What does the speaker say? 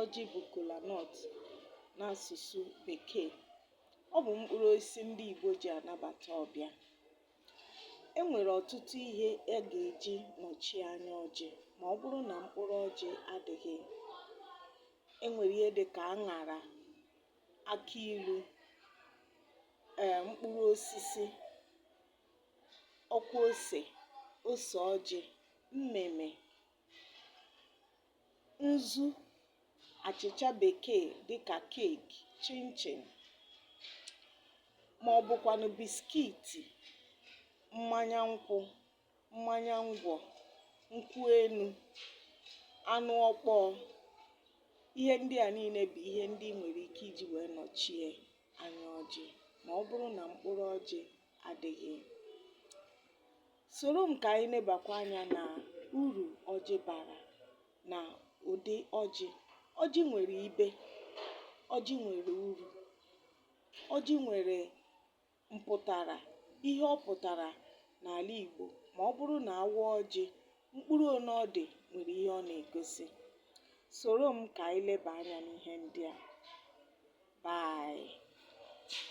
ọjị bụ kola nut n'asụsụ bekee ọ bụ mkpụrụ osisi ndị Igbo ji anabata ọbịa e nwere ọtụtụ ihe a ga-eji nọchie anya ọjị ma ọ bụrụ na mkpụrụ ọjị adịghị e nwere ihe dị ka aṅara akị ilu ee mkpụrụ osisi ọkwa ose ose ọjị mmịmị nzu, achịcha bekee dịka keeki, chinchin ma ọ bụkwanụ biskiti, mmanya nkwụ, mmanya ngwọ, nkwụ enu, anụ ọkpọọ. Ihe ndị a niile bụ ihe ndị i nwere ike iji wee nọchie anya ọjị ma ọ bụrụ na mkpụrụ ọjị adịghị. Soro m ka anyị nebakwa anya na uru ọjị bara na ụdị ọjị. Ọjị nwere ibe, ọjị nwere uru, ọjị nwere mpụtara, ihe ọ pụtara n'ala Igbo ma ọ bụrụ na a waa ọjị, mkpụrụ one ọ dị nwere ihe ọ na-egosi. Soro m ka anyị leba anya n'ihe ndị a. Bye.